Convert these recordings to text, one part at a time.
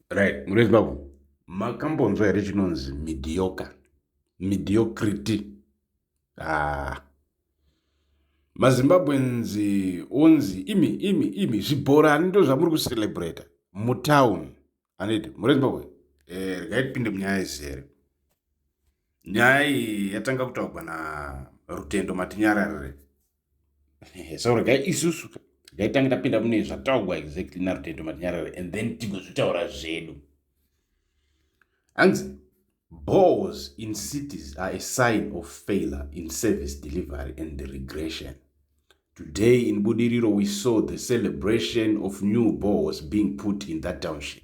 right muri vezimbabwe makambonzwa here chinonzi midioka midiocrity ah. mazimbabweans onzi imi imi imi zvibhorani ndo zvamuri kucelebrata mutown anidi muri vezimbabwe eh, regai tipinde munyaya izere nyaya iyi yatanga kutaurwa na rutendo matinyararire so regai isusu gaitange tapinda mune zvataugwa exactly narutendo matinyarara and then tigozvitaura zvedu hanzi bores in cities are a sign of failure in service delivery and the regression today in budiriro we saw the celebration of new bores being put in that township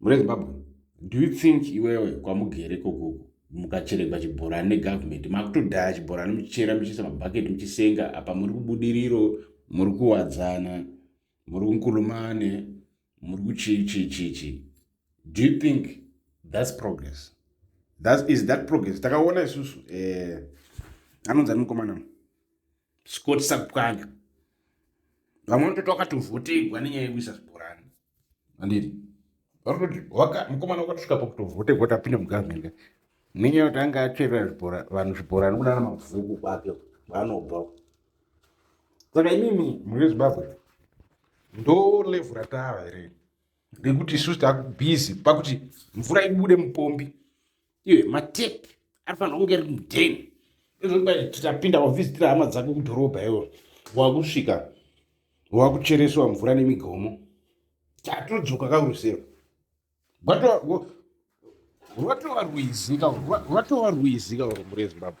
muri zimbabwe do you think iwewe kwamugere kokuku mukacheregwa chibhorani negovernment makutodhaya chibhorani muchichera muchiisa mabhaketi muchisenga apa muri kubudiriro muri kuwadzana muri kunkulumane muri kuchichichichi do you think thats progress that is that progress takaona isusu eh, anonzi ani mukomana scott sakupwanya vamwe vanotoita vakatovhotegwa nenyaya yekuisa zvibhorani anditi varikutoti mukomana wakatisvika pakutovhote vhota apinda mugovernment nenyaya yekuti anga acherera zvibhora vanhu zvibhora nokunana mabvuku kwake vanobva saka imimi muri vezimbabwe ndo levhu ratava here rekuti isusu takubhizi pakuti mvura ibude mupombi iwe matepi arifanira kunge ari mudheni tapinda wavhizitira hama dzako kudhorobha iwo wakusvika wakuchereswa mvura nemigomo tatodzoka kaurusero rwatova rwizi kaurwatova rwizi kaurumure zimbabwe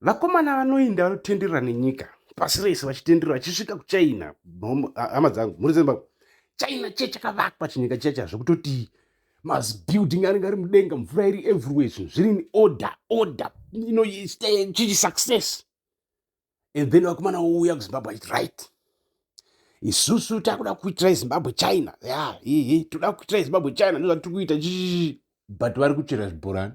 vakomana vanoinda vanotenderera nenyika pasi rese vachitenderera vachisvika kuchina hama dzangu mhuri dzembako china chiye chakavakwa chinyika chiya chazvo kutoti mabuilding anenge ari mudenga mvura iri everywhere zvinhu zviri in order order inoita chichi success and then vakomana wouya kuzimbabwe achiti right isusu takuda kuitira izimbabwe china ya hehe toda kuitira izimbabwe china ndozvatiri kuita chichichi but vari kuchera zvibhorani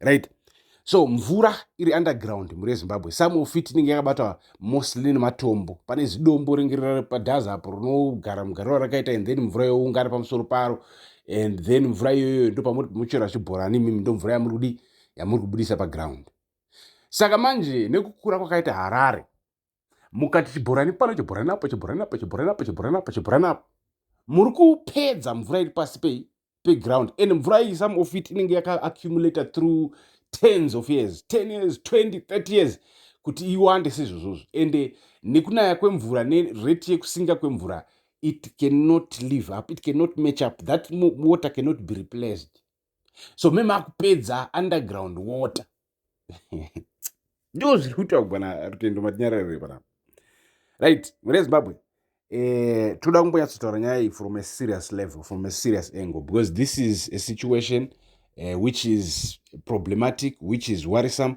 right so mvura iri underground mhuri yezimbabwe some of it inenge yakabata mostly nematombo pane zidombo ringe riri padhaza apo rinogara mugariro rakaita and then mvura youngana pamusoro paro and then mvura iyoyo ndo pamuri muchera chibhorani imimi ndo mvura yamuri kudi yamuri kubudisa paground saka manje nekukura kwakaita harare mukati chibhorani pano chibhorani apo chibhorani apo chibhorani apo chibhorani apo chibhorani apo muri kupedza mvura iri pasi pei peground and mvura iyi some of it inenge yakaaccumulator through tens of years ten years 20 30 years kuti iwande sezvozvozvo ende nekunaya kwemvura nereti yekusinga kwemvura it cannot live up it cannot match up that water cannot be replaced so me makupedza underground water ndo zviri kuitwa kubana rutendo matinyararire panapa right mune zimbabwe eh, toda kumbonyatsotaura nyaya iyi from a serious level from a serious angle because this is a situation uh, which is problematic which is worrisome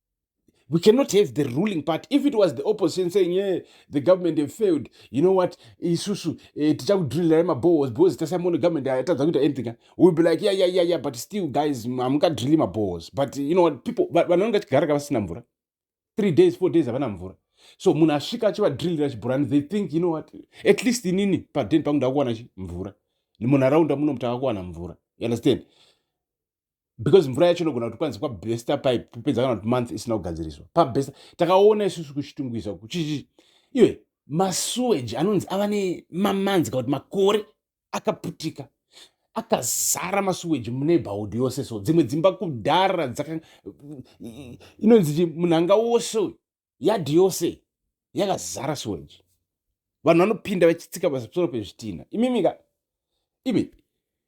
we cannot have the ruling party if it was the opposition saying yeah, the government have failed you know what isusu eh, tichakudrilirai mabohos because tasamono government atadza kuita anything eh? will be like yeah, yeah, yeah, yeah, but still guys hamukadrili mabohos but you know what people vanonge vachigara ka vasina mvura three days four days havana mvura so munhu asvika achivadrillira chibhurani they think you know what at least inini paden pangu ndakuwana mvura munharaunda muno mutakakuwana mvura you understand because mvura yacho inogona kuti kwanzi kwabesta pipe kupedza kana kuti month isina kugadziriswa pabesta takaona isusu kuchitungwiza kuchichi iwe masuweji anonzi ava nemamanzi kana kuti makore akaputika akazara masuweji muneighborhood yose so dzimwe dzimba kudhara dzaka inonzi munhanga wose uyu yadhi yose yakazara sewage vanhu vanopinda vachitsika pasoro pezvitinha imimika imi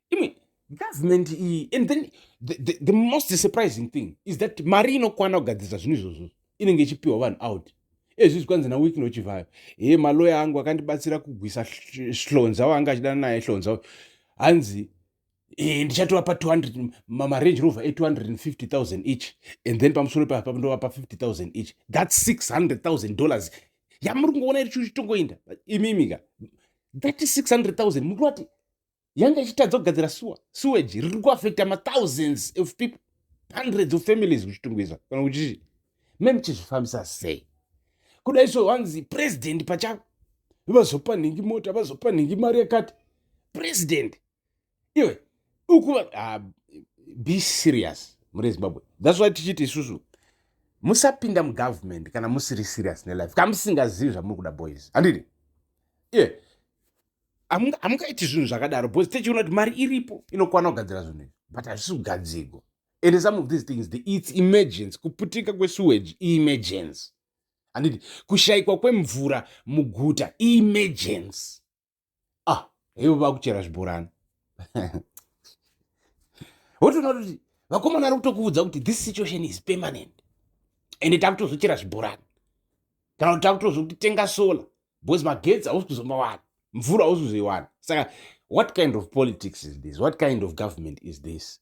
imi government iyi and then the, the, the most surprising thing is that mari inokwana kugadzirisa zvinhu izvozvo inenge ichipiwa vanhu out ezvi zvikwanzi nawiki nochivhayo he maloya angu akandibatsira kugwisa hlonza waanga achidana naye hlonza hanzi Eh, ndichatovapa 200 marange rover e250000 each and then pamusoro papa ndovapa 50000 each that 600000 dollars yamuri kungoona iri chitongoinda imimika that 600000 muri vati yanga ichitadza kugadzira sewer sewage riri kuaffecta mathousands of people hundreds of families kuchitongoizwa kana kuchii me muchizvifambisa sei kudai so wanzi president pachavo vazopa nhingi mota vazopa nhingi mari yakati president iwe ukuva ah, be serious muri zimbabwe thats why tichiti isusu musapinda mugovernment kana musiri serious nelife ka musingazivi zvamuri kuda boys handidi iye yeah hamungaiti zvinhu zvakadaro bcause tichiona kuti mari iripo inokwana kugadzira zvinhu izvi but hazvisi kugadzigwa and some of these things the, its emergence kuputika kwesewage emergence handiti kushayikwa kwemvura muguta emergence ah hevo vakuchera zvibhorani wotoona kuti vakomana ari kutokuudza kuti this situation is permanent ende takutozochera zvibhorani kana kuti takutozotenga solar because magetsi hausi kuzomawana mvura hausi kuzoiwana saka what kind of politics is this what kind of government is this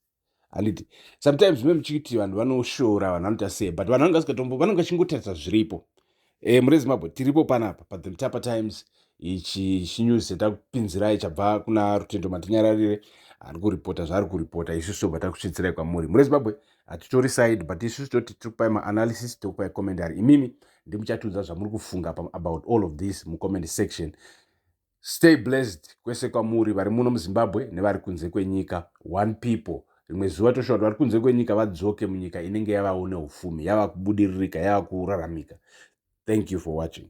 handiti sometimes zvimwe muchiti vanhu vanoshora vanhu vanoita sei but vanhu vangasikatombo vanenge vachingotarisa zviripo e, mune zimbabwe tiripo panapa but the mtapa times ichi chinews chatakupinzirai chabva kuna rutendo matinyararire ari kuripota zvaari kuripota isu sobva takusvitsirai kwamuri mune zimbabwe hatitori side but isu toti tiri kupai maanalysis tiri kupai commentary imimi ndimuchatiudza zvamuri kufunga about all of this mucomment section Stay blessed kwese kwamuri vari muno muZimbabwe nevari kunze kwenyika. One people. Rimwe zuva toshuwa kuti vari kunze kwenyika vadzoke munyika inenge yavawo neufumi, yava kubudiririka, yava kuraramika. Thank you for watching.